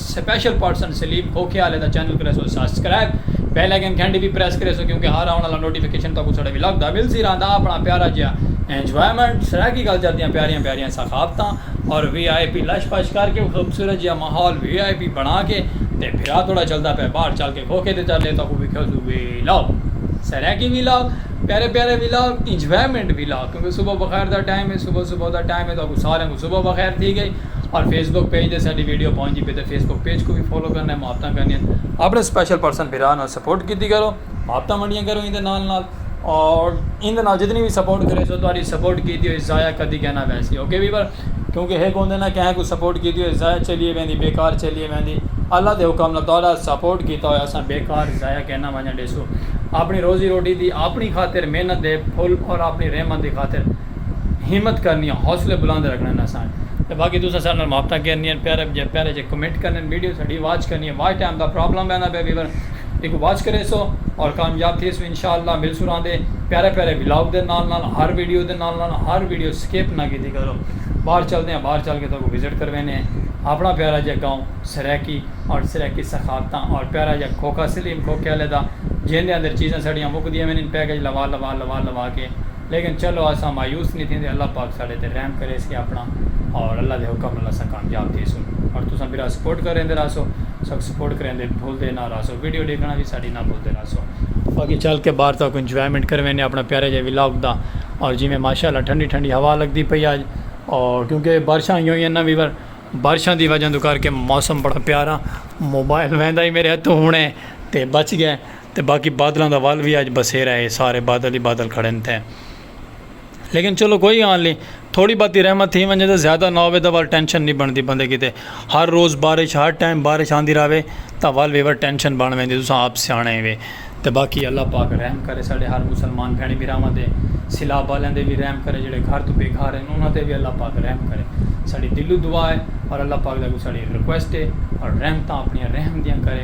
Special person Saleem کھوکھے آلے دا چینل کریسو سسکرائب بیل آئیکن گھنٹی وی پریس کریسو کیونکہ ہر آون آلا نوٹیفیکیشن تہاکوں ساڈے ولاگ دا ملسی رہندا اپنا پیارا جیا انجوائمنٹ سرائیکی کلچر دیاں پیاریاں پیاریاں ثقافتاں اور وی آئی پی لش پش کر کے خوبصورت جیا ماحول وی آئی پی بنا کے تے پھرا توڑا چلدا پے باہر چل کے کھوکھے تے چل لے تہاکوں وکھیسو ولاگ سرائیکی ولاگ پیارے پیارے ولاگ انجوائمنٹ ولاگ کیونکہ صبح بخیر دا ٹائم ہے صبح صبح دا ٹائم ہے تہاکوں ساریاں کوں صبح بخیر تھی گئی اور فیس بک پیج دے ساڈی ویڈیو پہنچ دی پئی تے فیس بک پیج کوں وی فالو کرنا ہے محبتاں کرنیاں ہن اپنے سپیشل پرسن بھرا نال سپورٹ کیتی کرو محبتاں ونڈیاں کرو ایندے نال نال اور ایندے نال جتنی وی سپورٹ کرے سو تہاڈی سپورٹ کیتی ہوئی ضائع کدی کے نہ ویسی اوکے ویور کیونکہ ہک ہوندے نا کہیں کوں سپورٹ کیتی ہوئی ضائع چلیے ویندی بیکار چلیے ویندی اللہ دے حکم نال تہاڈا سپورٹ کیتا ہویا اساں بیکار ضائع کے نہ ونجن ڈیسوں اپنی روزی روٹی دی اپنی خاطر محنت دے پھل اور اپنی رحمت دی خاطر ہمت کرنی ہے حوصلے بلند رکھنے ہیں اساں تے باقی تساں سارے نال محبتاں کرنی ہیں پیارے جے پیارے جے کمنٹ کرنے ہیں ویڈیو ساڈی واچ کرنی ہے واچ ٹائم دا پرابلم بیندا پیا ویور ایکوں واچ کریسو اور کامیاب تھیسو انشاءاللہ ملسوں راندے پیارے پیارے ولاگ دے نال نال ہر ویڈیو دے نال نال ہر ویڈیو سکپ نہ کیتی کرو باہر چلدے ہیں باہر چل کے تہاکوں وزٹ کروینے ہیں اپنا پیارا جے گاؤں سرائیکی اور سرائیکی ثقافتاں اور پیارا جے کھوکھا سلیم کھوکھے والے دا جیندے اندر چیزاں ساڈیاں مکدیاں وینن پیکج لوا لوا لوا لوا کے لیکن چلو اساں مایوس نی تھیندے اللہ پاک ساڈے تے رحم کریسے اپنا اور اللہ دے حکم نال اساں کامیاب تھیسوں اور تساں برا سپورٹ کریندے رہسو اساکوں سپورٹ کریندے بھلدے نہ رہسو ویڈیو ڈیکھنا وی ساڈی نہ بھلدے رہسو۔ باقی چل کے باہر تاکوں انجوائمنٹ کرویندے اپنا پیارے جے ولاگ دا اور جیویں ماشاءاللہ ٹھنڈی ٹھنڈی ہوا لگدی پئی اج اور کیونکہ بارشاں ہوئیاں ہوئیاں نہ ویور بارشاں دی وجہ توں کر کے موسم بڑا پیارا موبائل ویندا ہی میرے ہتھوں ہنے تے بچ گئے۔ تے باقی بادلاں دا ول وی اج بسیرا ہے سارے بادل ہی بادل کھڑن تھے لیکن چلو کوئی گال نہیں تھوڑی باتی رحمت تھی ونجے تے زیادہ نہ ہوے تے ول ٹینشن نہیں بندی بندے کیتے ہر روز بارش ہر ٹائم بارش آندی راوے تاں ول وی ول ٹینشن بن ویندی تساں آپ سیانے وے تے باقی اللہ پاک رحم کرے ساڈے ہر مسلمان بھینڑ بھراواں تے سیلاب والیاں تے وی رحم کرے جڑے گھر تو بے گھر ہیں انہاں تے وی اللہ پاک رحم کرے ساڈی دلو دعا ہے اور اللہ پاک دا کو ساڈی ریکویسٹ ہے اور رحمتاں اپنی رحم دیاں کرے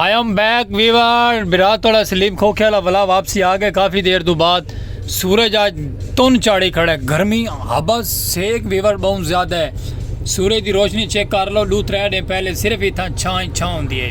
آئی ایم بیک ویور برا توڑا سلیم کھوکھے والا بلا واپسی آ گئے کافی دیر تو بعد سورج آج تن چاڑی کھڑے گرمی ہبا سیک ویور بہت زیادہ ہے سورج دی روشنی چیک کر لو دو ترے دن پہلے صرف اتھا چھائیں چھاں ہوندی ہے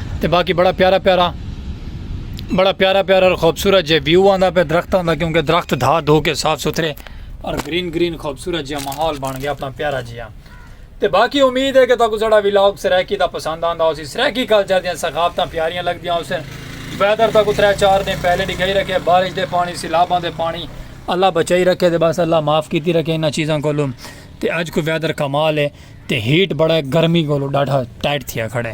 تے باقی بڑا پیارا پیارا بڑا پیارا پیارا اور خوبصورت جے ویو آندا پہ درخت آندا کیونکہ درخت دھا دھو کے صاف ستھرے اور گرین گرین خوبصورت جے ماحول بن گیا اپنا پیارا جی ہاں تے باقی امید ہے کہ تاکو سڑا ویلاگ سریکی دا پسند آندا ہو سی سریکی کل جا دیاں ثقافتاں پیاریاں لگ دیاں ہو سن ویدر تاکو ترے چار دن پہلے نہیں گئی رکھے بارش دے پانی سیلاباں دے پانی اللہ بچائی رکھے دے بس اللہ معاف کیتی رکھے انہاں چیزاں کو لوں تے اج کو ویدر کمال ہے تے ہیٹ بڑا ہے گرمی کو لو ڈاٹھا ٹائٹ تھیا کھڑے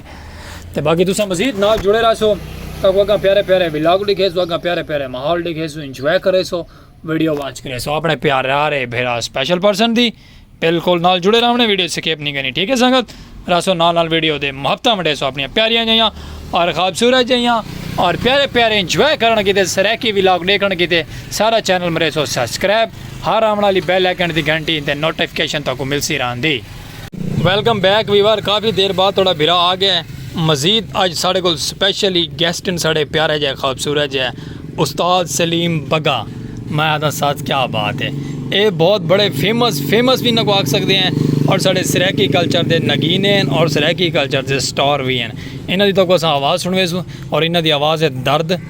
تے باقی تسا مزید نال جڑے رہا سو تو اگا پیارے پیارے ولاگ ڈکھے سو اگا پیارے پیارے ماحول ڈکھے سو انجوائے کرے سو ویڈیو وانچ کرے سو اپنے پیارے آ رہے بھیرا اسپیشل پرسن دی بالکل نال جڑے رہا انہیں ویڈیو سکیپ نہیں کرنی ٹھیک ہے سنگت رہا سو نال نال ویڈیو دے محبتہ مڈے سو اپنی پیاریاں جائیاں اور خوابصورت جائیاں اور پیارے پیارے انجوائے کرنے کی تے سریکی ولاگ ڈیکھنے کی تے سارا چینل مرے سو سبسکرائب ہر آوݨ آلی بیل آئیکنٹ دی گھنٹی تے نوٹیفکیشن تہاکوں ملسی رہندی۔ ویلکم بیک ویور کافی دیر بعد تہاڈا بھرا آ گیا ہے مزید اج ساڈے کول سپیشل ہی گیسٹ ہن ساڈے پیارے جے خوبصورت جے استاد سلیم بگا میں آہدا ساتھ کیا بات ہے اے بہت بڑے فیمس فیمس وی انہاں کو آکھ سکدے ہیں اور ساڈے سرائیکی کلچر دے نگینے ہیں اور سرائیکی کلچر دے سٹار وی ہیں انہاں دی تہاکوں اساں آواز سنڑویسوں اور انہاں دی آواز ہے درد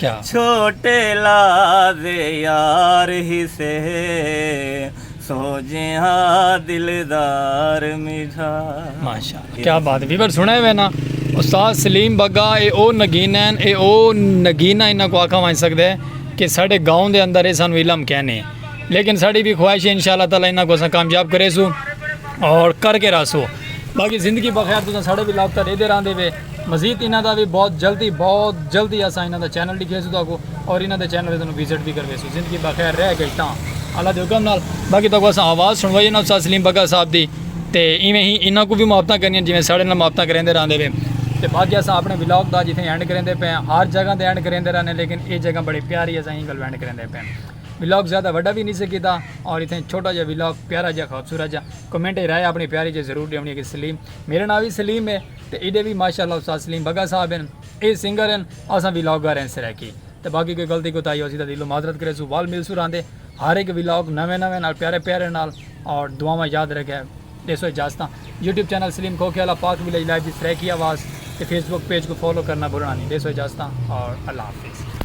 چھوٹے لعذ یار ہیسے سو جیہا دلدار میڈا۔ کیا بات ہے ویور سنڑے ہوئے نا استاد سلیم بگا اے او نگین ہن اے او نگین ہن انہاں کو آکھا ونج سکدے کہ ساڈے گاؤں دے اندر اے سانو علم کینے لیکن ساڈی وی خواہش ہے انشاء اللہ تعالی انہاں کو اساں کامیاب کریسوں اور کر کے رہسوں باقی زندگی بخیر تساں ساڈے وی لاگ تے ڈیدے راہندے وے۔ مزید انہاں دا وی بہت جلدی بہت جلدی اساں انہاں دا چینل ڈکھیسوں تہاکو اور انہاں دے چینل توں وزٹ وی کرویسوں زندگی بخیر رہ گئی تاں اللہ دے حکم نال باقی تہاکو اساں آواز سنڑوائی انہاں استاد سلیم بگا صاحب دی تے ایویں ہی انہاں کوں وی محبتاں کرنیاں جیویں ساڑے نال محبتاں کریندے راہندے وے تے باقی اساں اپنے ولاگ دا جتھے اینڈ کریندے پئے آں ہر جگہ تے اینڈ کریندے رہنے لیکن اے جگہ بڑی پیاری اساں ایں گالوں اینڈ کریندے پئے آں ولاگ زیادہ وڈا وی نی سے کیتا اور اتھے چھوٹا جیہا ولاگ پیارا جیہا خوبصورت جیہا کمنٹ اچ رائے اپنی پیاری جیہی ضرور ڈیونی کہ سلیم میرا ناں وی سلیم ہے تے ایڈے وی ماشاءاللہ استاد سلیم بگا صاحب ہن اے سنگر ہن اساں ولاگر ہیں سرائیکی تے باقی کوئی غلطی کوتاہی ہوسی تاں دلوں معذرت کریسوں ول ملسوں راہندے ہر ہک ولاگ نویں نویں نال پیارے پیارے نال اور دعاواں یاد رکھے ڈیسو اجازتاں یوٹیوب چینل سلیم کھوکھے والا پاک ولیج لائیو دی سرائیکی آواز تے فیس بک پیج کوں فالو کرنا بھلنا نی ڈیسو اجازتاں اور اللہ حافظ۔